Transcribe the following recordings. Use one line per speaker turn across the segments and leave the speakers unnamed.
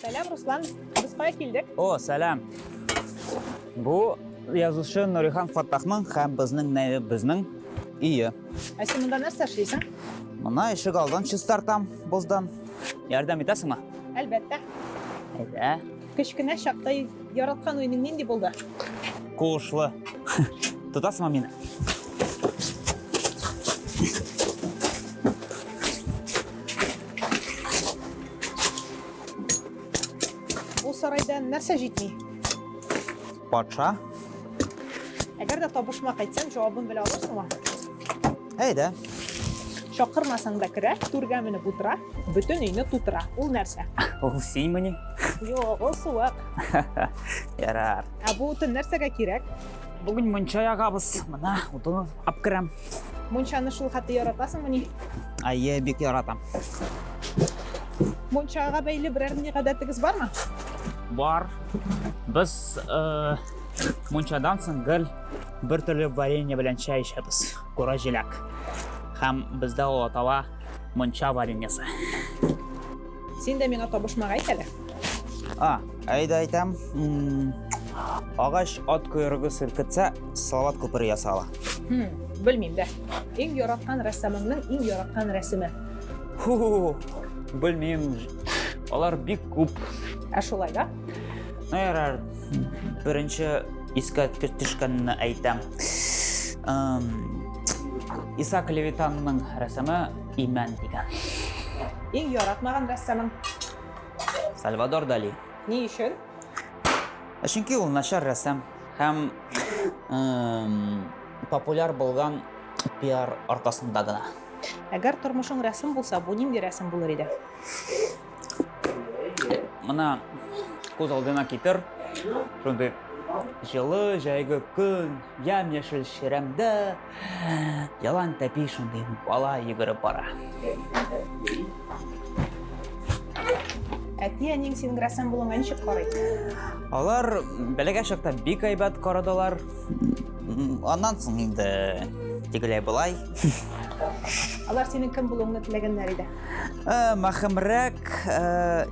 Сәлам, Руслан. Кыбыская килдек. О, сәлам.
Бу язучы Нурихан Фаттахның һәм безнең нәйбебезнең өе. Ә син монда
нәрсә эшлисең? Мына ишек
алдын чистартам боздан. Ярдәм итәсеңме? Әлбәттә.
Әйдә.
Кечкенә
чакта яраткан уеның нинди булды? Куышлы.
Тотасыңмы мине?
Бу сарайда нәрсә җитми?
Патша.
Әгәр дә табышма кайтсаң, җавабын белә аласыңмы? Әйдә. Чакырмасаң да керә, түргә менеп утыра, бөтен өйне тутыра. Ул нәрсә? Ул синмени?
Юк, ул
суык.
Ярар. Ә бу утын
нәрсәгә кирәк? Бүген мунча
ягабыз. Менә утын алып керәм. Мунчаны шул
хәтле яратасыңмыни? Әйе, бик
яратам.
Мунчага бәйле берәр ни гадәтегез бармы? Бар.
Без э, мунчадан соң гел бер төрле варенье белән чәй эчәбез. Кура җиләк. Һәм бездә ул атала мунча вареньесы.
Син дә миңа табышмак әйт әле. А,
әйдә әйтәм. Агач ат койрыгы селкетсә, салават күпере ясала. Хм, белмим
дә. Иң яраткан рәссамыңның иң яраткан рәсеме. Ху,
белмим. Алар бик күп. Ә шулай да?
Ну, ярар.
Беренче искә төшкәнне әйтәм. Исаак Левитанның рәсеме Имән дигән. Иң
яратмаган рәссамың?
Сальвадор Дали. Ни өчен?
Ә
Чөнки ул начар рәссам һәм эм, популяр булган пиар аркасында гына. Әгәр тормышың
рәсем булса, бу нинди рәсем булыр иде?
Мына күз алдына китер, шундый җылы җәйге көн, ямь-яшел чирәмдә, Ялан тәпи шундый бала йөгереп бара.
Әти әниң синең грәсән булуыңа ничек карый? Алар
бәләгә чакта бик әйбәт карадылар. М, Аннан соң инде тегеләй болай.
Алар синең кем булуыңны теләгәннәр иде. Э, Махымрәк
э,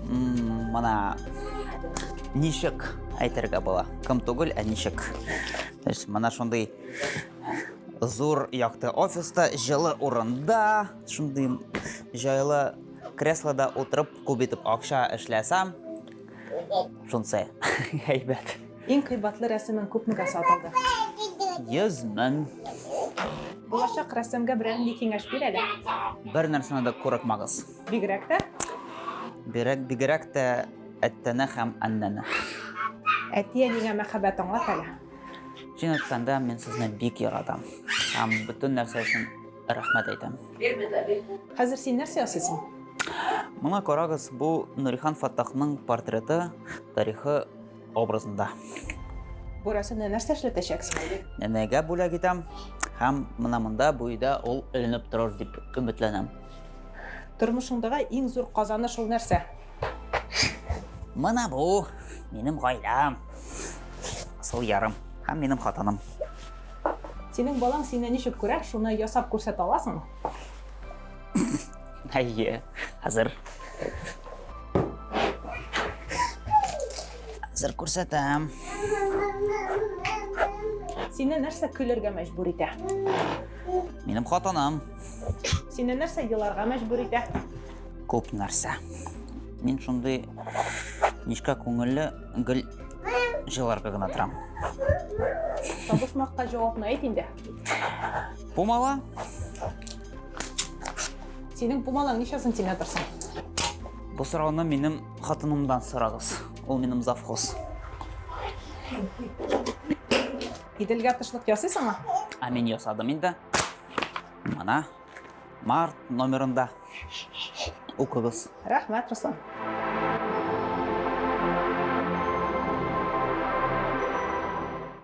м, мына ничек әйтергә була. Кым түгел, ә ничек? Менә шундый зур якты офиста, җылы урында, шундый җайлы креслода утырып, күп итеп акча эшләсәм, шунсы әйбәт. Иң кыйбатлы
рәсемен күпмегә сатылды?
100 мең.
Булачак рәссамга берәр нинди киңәш бир әле. Бер нәрсәне
дә курыкмагыз. Бигрәк тә?
Бигрәк,
бигрәк тә Әттәнә һәм Аннәнә. Әтиә
нигә мәхәббәт аңлат әле. Чын әйткәндә,
мин сезне бик яратам. Һәм бөтен нәрсә өчен рәхмәт әйтәм. Хәзер
син нәрсә ясыйсың? Моңа
карагыз, бу Нурихан Фаттахның портреты тарихы образында.
Бу рәсемне нәрсә эшләтәчәксең? Нәнәгә бүләк
итәм һәм менә монда бу өйдә ул эленеп торыр дип өметләнәм.
Тормышыңдагы иң зур казаныш ул нәрсә? Мына
бу минем гаиләм. Сыл ярым һәм минем хатыным.
Синең балаң сине ничек күрә, шуны ясап күрсәтә аласың?
Әйе, хәзер. Хәзер күрсәтәм.
Сине нәрсә көлергә мәҗбүр итә?
Минем хатыным. Сине
нәрсә еларга мәҗбүр итә? Күп
нәрсә. Мин шундый нечкә күңелле гел җыларга гына торам. Табышмакка
җавапны әйт инде.
Пумала.
Синең пумалаң ничә сантиметр соң? Бу
сорауны минем хатынымдан сорагыз. Ул минем завхоз.
Иделгә тышлык ясыйсыңмы? Ә мин ясадым
инде. Мына Март номерында укыгыз.
Рәхмәт, Руслан.